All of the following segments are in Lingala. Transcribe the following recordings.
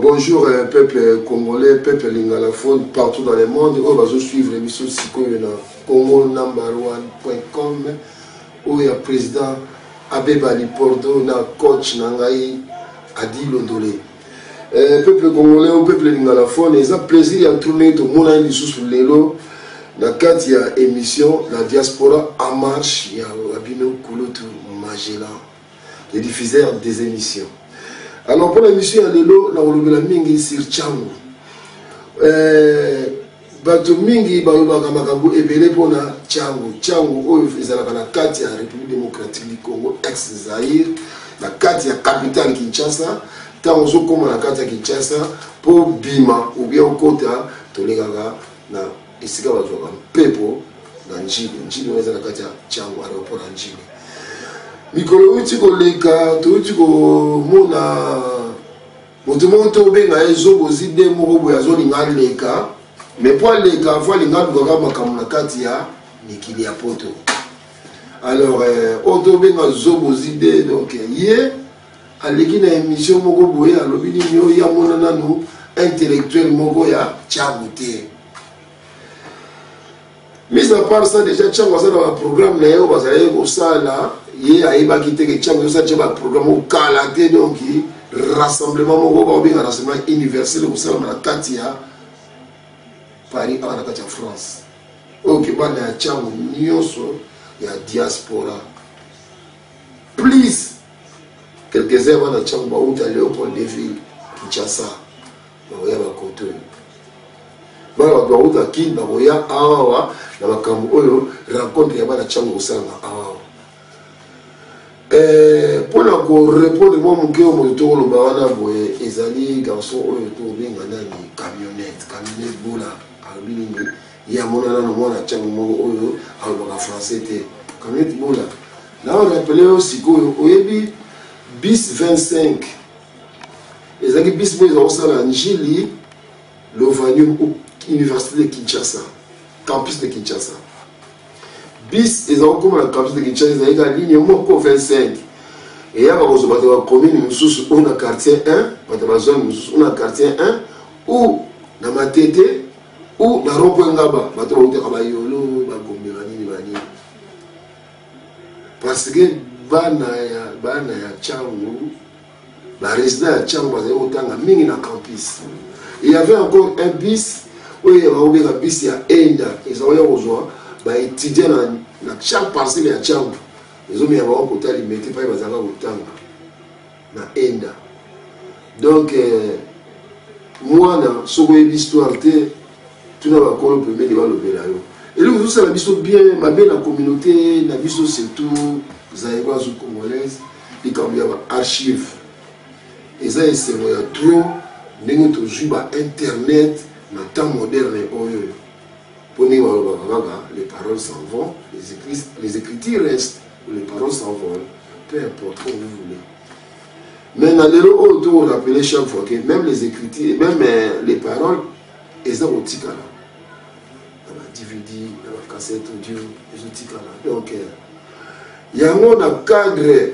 bonjour euh, peuple congolais peuple lingalaphone partout dans le monde oyo bazosuivre biso sikoyo na congo number one point com oyo ya président abeba lipordo na coach na ngai adi londole euh, peuple congolais o peuple lingalaphone eza plaisir ya tourne ye tomonani lisusu lelo na kati ya émission la diaspora en marche ya bino kulutu magellan le diffuseur des émissions alors mpo na émission ya lelo nakolobela mingi sur changu euh, bato mingi balobaka makambo ebele mpo na changu changu oyo ezalaka na kati ya république démocratique du congo ex zaire na kati ya capitale kinshasa ntango ozokóma na kati ya kinshasa mpo bima obia okota tolekaka na esika bazwaka mpepo na njili njili wana eza na kati ya jango aeroport ya njili mikolo euti koleka touti komona moto moko te obenga ye zobozi de moko boye azolinga aleka mais mpo aleka mpo alinga alukaka makambo na kati ya mikili ya poto alors euh, oyo tobenga zobozi de donc ye aleki na emission moko boye alobi nini oyo ya mona nanu intellectuel moko ya changu te mise à part ça déjà changu aza na baprogramme na ye oyo bazalaki kosala ye ayebaki te ke changu ezosala tya baprogramme oyo kala te donc rassemblement moko bakobenga rassemblement universel ekosalama na kati ya paris awa na kati ya france oyo kebana ya changu nyonso ya diaspora please quelques heures wana ntango bauta leopold deville kinshasa bakoya bakoto oyo bana bato bauta kin bakoya awawa na makambo oyo rencontre ya bana ntango kosalama awawa eh, mpo na korepondre mwa moke oyo moto tokoloba wana boye ezali garçon oyo tokobenga nani camionnette camionnette bola alobi nini ye amonana na mwana ntango moko oyo alobaka français te camionnette bola nao rapele yo sikoyo oyebi bis 25 ezalaki bis mpo ezala kosala njili lovanium université de kinshasa campus de kinshasa bis eza kokoma na campus de kinshasa ezalaki ka ligne moko 25 eyaka kozwa bato ya bacommune mosusu oyo na quartier 1 bato ya bazone mosusu oyo na quartier 1 ou na matete ou na ropo engaba bato bautaka bayolo bagombe banini banini parce que bana ya bana ya changu baresident ya changu bazali kotanga mingi na campus il y avait encore un bis oyo eyaka kobeka bis ya enda ezalaki ya kozwa baétudiant na, na chaque parcelle ya changu ezomeka bango kota limete pai bazalaka kotanga na enda donc euh, mwana soki oyebi histoire te tuna bakolo pembeni balobela yo eloko ezosala biso bien mabe na communauté na biso surtout zaïroise ou congolaise likambo ya baarchive eza esengo ya trop ndenge tozwi bainternet na temps moderne oyo Po ndenge balobaka kaka les paroles s'en vont, les ecritures restent, les paroles s'en vont, peu importe comme vous voulez. Mais na lelo oyo to rappeler chaque fois que même les ecritures, même euh, les paroles eza kotikala na ba DVD, na ba cassette audio ezotikala. Donc euh, yango na cadre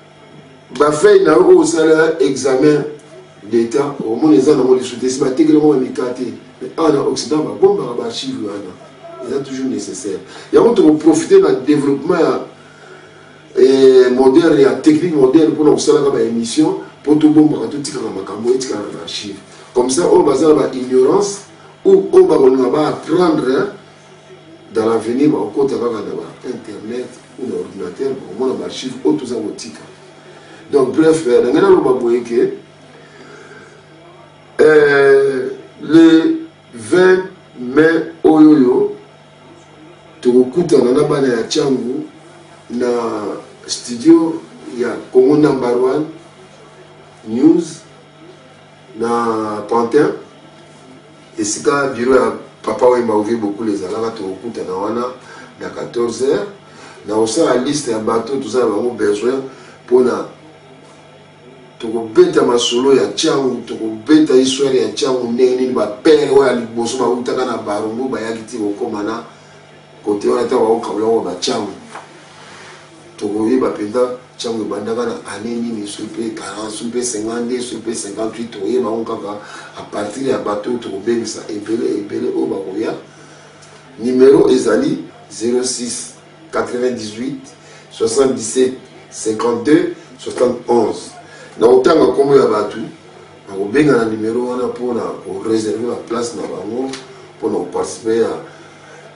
bafei na yo oyo osala examen d'etat omona eza nango lisusu te esi batekeli yango bamika te awa na occident babombaka baarchive wana eza toujours nécessaire yango tokoprofite na développement ya eh, moderne ya technique moderne mpona kosalaka baémission mpo tobombaka totikaka makambo etikaka na archive comme ça oyo baza na baignorance ou oyo bakolinga baapprendre dans l'avenir bakokota kaka na ba internet ou na ordinateur bakomona baarchive oyo toza kotika donc bref euh, na ngai naloba boye ke euh, le 20 mai oyo oyo tokokutana na bana ya cangu na studio ya congo number one news na pantin Esika biro ya Papa Wemba Ovie Bokule ezalaka tokokutana wana na 14 heures. Nakosala liste ya bato toza na bango besoin mpona tokobeta masolo ya ntango tokobeta histoire ya ntango ndenge nini bapere oyo ya liboso bautaka na barumbu bayaki ti kokoma na kote wana ntango bakokabola yango bantango Tokoyeba mpenza ntango ebandaka na annee nini, soki mpe 40, soki mpe 52, soki mpe 58, tokoyeba yango kaka à partir ya bato oyo tokobengisa ebele ebele oyo bakoya. Nimero ezali 06 98 77 52 71. Na kotanga nkombo ya bato nakobenga na nimero wana mpo na koreserve baplace na bango mpo na koparticipe ya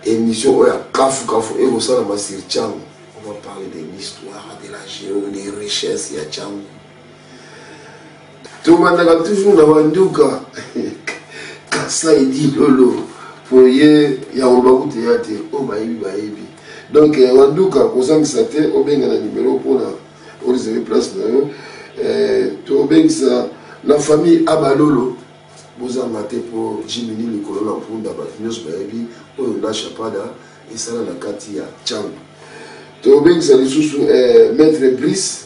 Emission oyo ya kafu kafu ekosalama sur Tshangu. On va parler de l'histoire, de la géo, des richesses ya Tshangu. Tobandaka toujours na banduka Kasai Dilolo mpo ye yango bakutu ya te oyo bayebi bayebi donc eh, wanduka kozangisa te obenga na nimero mpona oreserve place na yo eh, tobengisa la famille abalolo Bozanga te po Jiminy likolo na mpunda batu nionso bayebi oyo Nash Apada esala na kati ya Tshangu. Tobengisa lisusu eh, Maitre Brice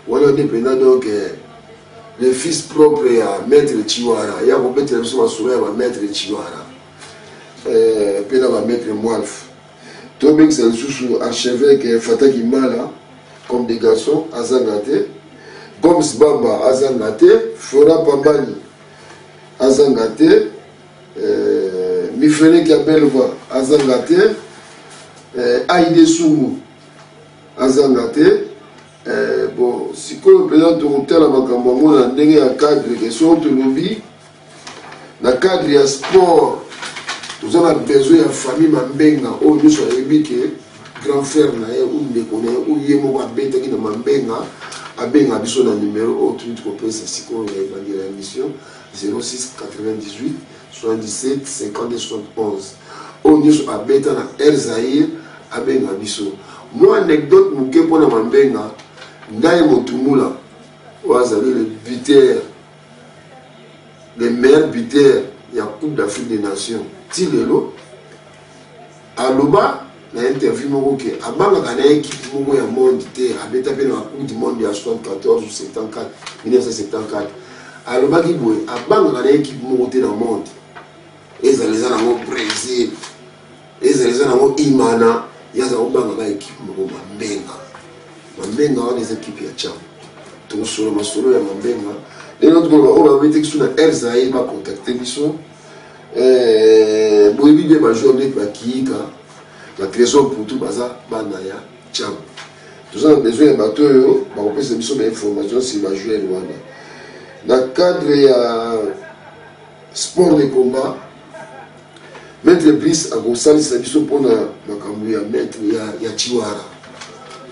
wana nde mpenza donc eh, le fils propre ya Maitre Chiwara ya kobetela biso masolo ya ba Maitre Chiwara eh, mpe na ba Maitre Mwalf. tobengisa lisusu archevêque fataki mala comme des garçons azanga te gomes bamba azanga te flora pambani azanga te euh, mifeleki ya belva azanga te euh, aide sumu azanga te euh, bon sikoyo mpenza tokotala makambo yango na ndenge ya cadre ke soko tolobi na cadre ya sport toza na besoin ya famille mambenga oyo nyonso ayebi ke grand frère na ye ou ndeko na ye ou ye moko abetaki na mambenga abenga biso na numero oyo toyiti kopesa sikoyo ya ebandi ya émission 06 98 77 52 71 oyo nyonso abeta na air zaire abenga biso mwa anecdote moke mpo na mambenga ndai motumula oyo azali le buteur le meilleur buteur ya coupe d'afrique des nations ti lelo aloba na interview moko ke abangaka na ekipe moko ya monde te abeta mpe na coupe du monde ya 74 74 1974 alobaki boye abangaka na ekipe moko te na monde ezala eza nango brésil Ezala eza nango Imana, ye aza kobanga ba ekipe moko Mambenga. Mambenga wana eza ekipe ya Tcham. Tokosolo masolo ya Mambenga. Lelo nde tukoloba oyo babebi te kisu na Air Zaire bakontakte biso. Eh, boyebi bien bajoueur ndeti bakiyika na trésor putu baza bana ya Tcham. Toza na besoin ya bato oyo bakopesa biso ba information si bajoueur wana na cadre ya Sport de combat. Maître Brice akosalisa biso mpo na makambo ya maître ya, ya Chiwara.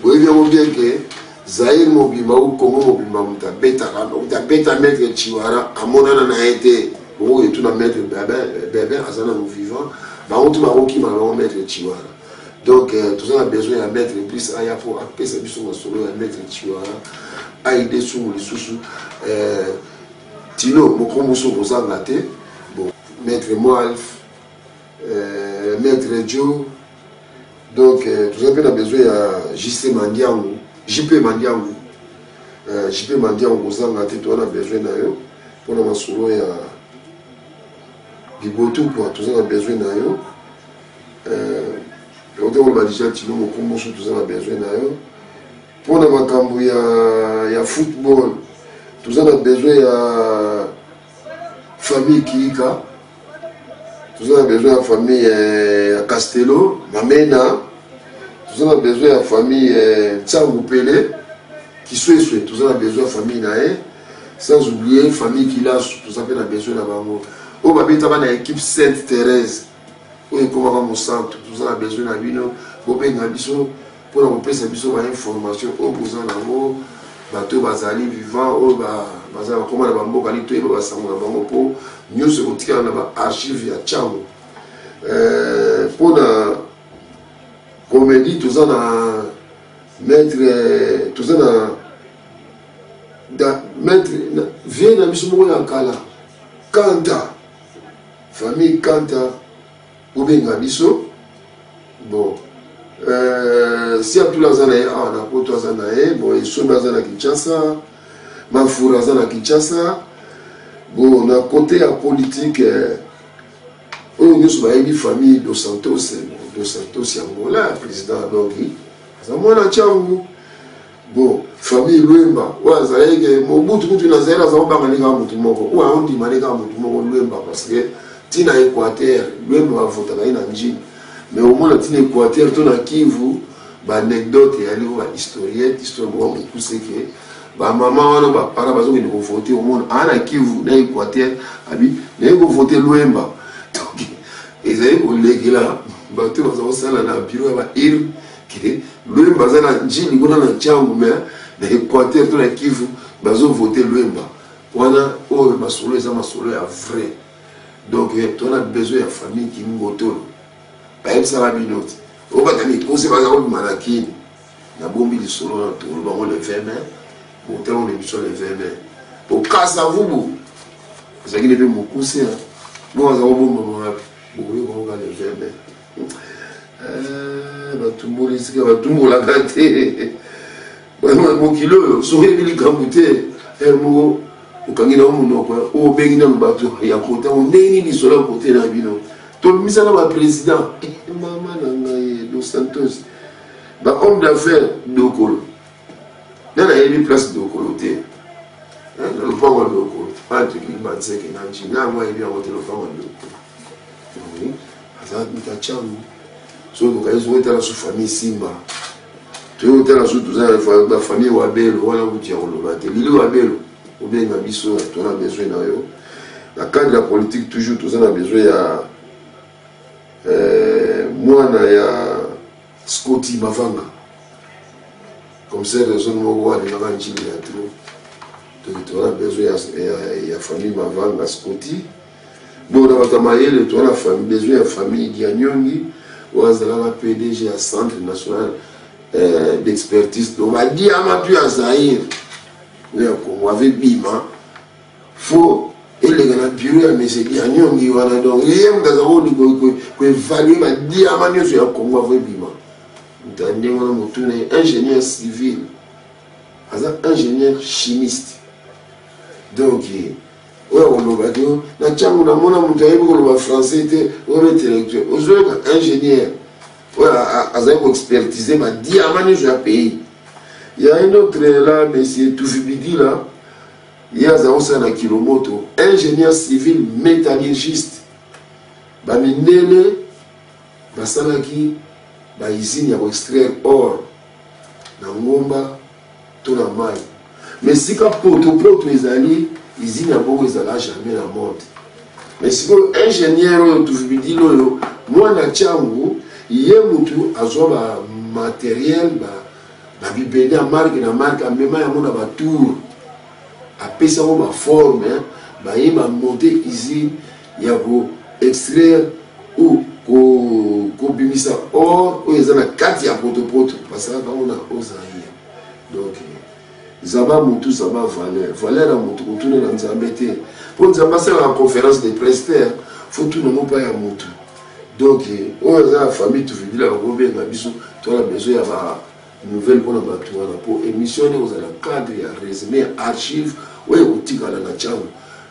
Boyebi yango bien ke Zaire mobimba ou Congo mobimba moto abetaka moto abeta maître Chiwara amonana na ye te. Bongo etuna maître Bebin, Bebin aza nanu vivant. Bango tu bakokima bango maître Chiwara. donc euh, toza na besoin ya maître plus aya mpo apesa biso masolo ya maître chiwara aide sungu lisusu euh, Tino boko musu kozanga te bo maître Moalf euh, maître Joe donc euh, tozali mpe na besoin ya JC Mandiangu JP Mandiangu euh, JP Mandiangu kozanga te toza na besoin na yo mpo na masolo ya libotu kua toza na besoin na yo euh, ote koloba deja tino mokomboso toza na besoin na yo mpo na makambo ya, ya football toza na besoin ya famille kiika toza na besoin ya famille eh, ya castello mamena toza na besoin ya famille eh, nsangu pele kisweswe toza na besoin ya famille na ye sans oublier famille kilasu toza mpe na besoin na bango oyo babetaka na équipe sainte thérèse oyo ekomaka mosantu toza na besoin na bino bobenga biso mpo na kopesa biso bainformation oyo boza na yango bato oyo bazali vivant oyo bazali bakoma na bamboka nini toyeba basango na bango mpo nyonso ekotikala na baarchive ya cango eh, mpo na komedi toza na maître toza na maître vie na biso moko ya kala kanta Famille Kanta, bobenga biso. Bon, euh, si atula aza na ye awa ah, na poto aza na ye bon esombi aza na kinshasa mafura aza na kinshasa bon na kote ya politike euh, oyo nyonso bayebi famille dos santos eh, dos santos ya angola président adongi aza mwana ntango Bon, famille Luemba, oyo azalaki ke Mobutu kutu nazali naza kobanga ndenge ya motu moko, oyo aondima ndenge ya motu moko Luemba parce que ti na Equateur, Luemba bavotaka ye na njini. Mais omona ti na Equateur to na Kivu, baanecdote eyali oyo bahistorienne, histoire moko mokuse ke bamama wana bapara bazokende kovote omona aa na kivu na equateur abi naye kovote lwemba ezali kolekela bato baza kosala na biro ya baile Okay. Luemba aza na njini kuna na ncangu me na Equateur to na Kivu bazovote Luemba wana oyo masolo eza masolo ya vrai donc eh, tona besoin ya famille kingotolo bayebisaka bino te obata mikose baza kobima na kini nabombi lisolo na tolo bango le 20 mai botango na biso le 20 mai okasa vubu ezalaki nde mpe mokuse bongo aza kobombama wapi bokoyoka oka le 20 mai Eh, batumboli esika batumbolaka te mokili oyo soki eyebi likambo te eh, moko okangi nao monoko oyo obengi nano bato ya kota o ndenge nini lisolo ya kote na bino tobimisa na baprésident eh, mama na ngai dos santos bahomme d'affaires dokolo nde nayebi place dokolo te eh, na lopango ya dokolo wana toki banseke na njina yango ayebi yango te lopango ya dokolo eh, aza mitacango soki bokanisi ngo etala su famille simba toyei kotala su toza na bafamille wabelo wana kuti ya koloba te lili wabelo obenga biso tona besoin na yo na cadre ya politique toujours toza na besoin ya eh, mwana ya Scotty Mavanga commissaire ya zone moko alingaka ncimbi ya trop donc toza na besoin ya, ya, ya famille Mavanga Scotty donc na bato ya mayele toza na famille besoin ya famille Dianyongi oyo azalaka PDG ya centre national euh, d'expertise donc badiama mpe ya Zaire oyo ya Congo ave bima faut eleka na bureau ya mese lianyongi wana donc ye moto aza koevalue badiama nyonso ya congo avo ebima moto ya ndenge wana motuna ye ingénieur civil aza ingénieur chimiste donc oyo akoloba te na ntango namona moto ayebi koloba français te oyo intellectuel ozoyoka ingénieur oyo azali koexpertise badiama nyonso ya pays ya un autre la monsieur tufibidila ye aza osala na kilomoto ingénieur civil métallurgiste bamindele basalaki baizine ya koextraire or na ngomba to na mai ma esika potopoto ezali izine ya bongo ezala jamais na monde ma sikoyo ingénieur oyo tuvibidile oyo mwana ntango ye motu azwa bamateriel ba na bibende ya marke na marke amema yango na batour apesa yango baforme baye bamonte usine ya ko extraire ou kobimisa or oyo eza na kati ya potopoto basalaka yango na ozaire donc zaba motu zaba valeur valeur ya motu kotuna na nzambe te mpo nzambe asalaka conférence de presse te fo tuna yango mpa ya motu donc oyo aza ya famille tuvibila bakobenga biso tona besoin ya ba nouvelle mpona bato wana mpo émission nde kozala cadre ya résumé ya archive oyo ekotikala na ntango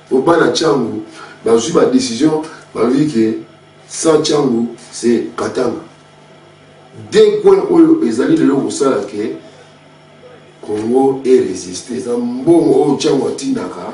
mpo bana ntango bazwi badécision balobi ke sans ntango se katanga de coin oyo ezali lelo kosala ke congo eresiste eza mbongo oyo ntango atindaka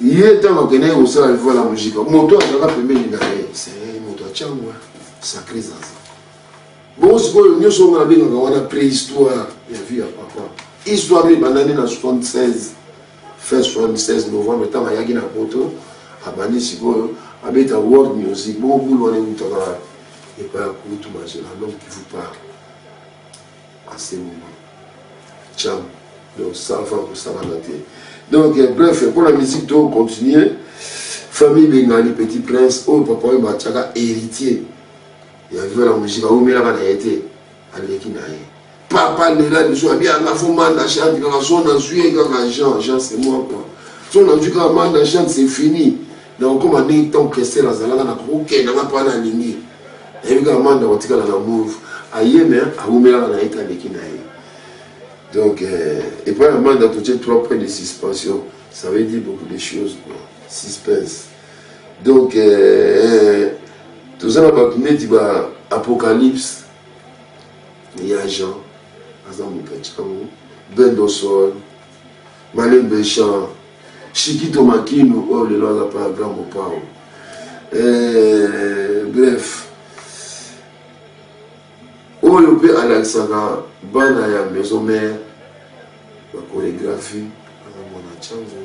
ye ntango akendaki kosala livola ya mojika moto azalaka pembeni na ye seyei moto atyangwa sacre zaza bongo sikoyo nyonso yango nabengaka wana préhistoire ya vie ya papa histoire ebandani na 76 fin 76 novembre ntango ayaki na poto abandi sikoyo abeta world music bongo bulu wana eutaka epai ya kutu mazela donc kivu parle en ce moment cham donc sans fa kosalana te donc bref mpo na musique to continue famille bengali petit prince oyo papa oyo batiaka héritier ya viva la musique awumelaka na ye te aleki na ye papa lela biso abi anga fo manda chante kaka so nazwi ye kaka jean jean c'est moi quoi so nazwi kaka manda chante c'est fini Nakokoma ndenge Tom Kester azalaka na kokokenda nga pana alingi. Nayebi kaka manda kotikala na move. Aye me awumelaka na ye te aleki na ye. Donc euh, epai ya manda totie trois points de suspension. Ça veut dire beaucoup de choses quoi. Suspense. Donc euh, toza na bato neti ba apocalypse ya Jean aza moto ya ntango bendosol malembe chant shikito makinu oyo oh, lelo aza pa ya grand mopao eh, bref oyo mpe alakisaka bana ya maison mare bakoregraphie akamona chango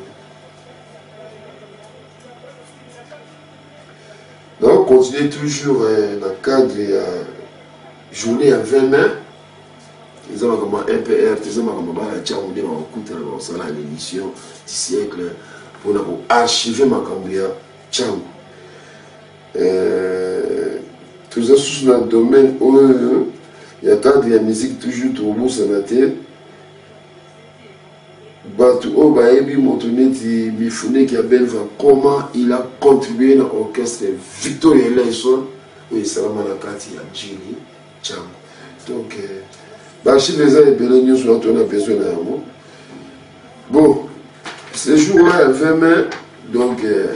naokontinue toujours eh, na cadre ya journée ya 20 mai eza makambo ya mpr te eza makambo ya bana ntango nde bakokutana bakosala na émission du siècle mpona koarchive makambo ya ntango euh, toza susu na domaine oyo ya cadre ya musique toujours tokobosana te bato oyo bayebi moto neti mifuneki ya belva comment il a contribué na orchestre victoria eleison oyo esalama na kati ya jini Django. Donc, euh, baarchive eza ebele nyonso na tona besoin na yango bon ce jour wana ya 20 mai donc euh,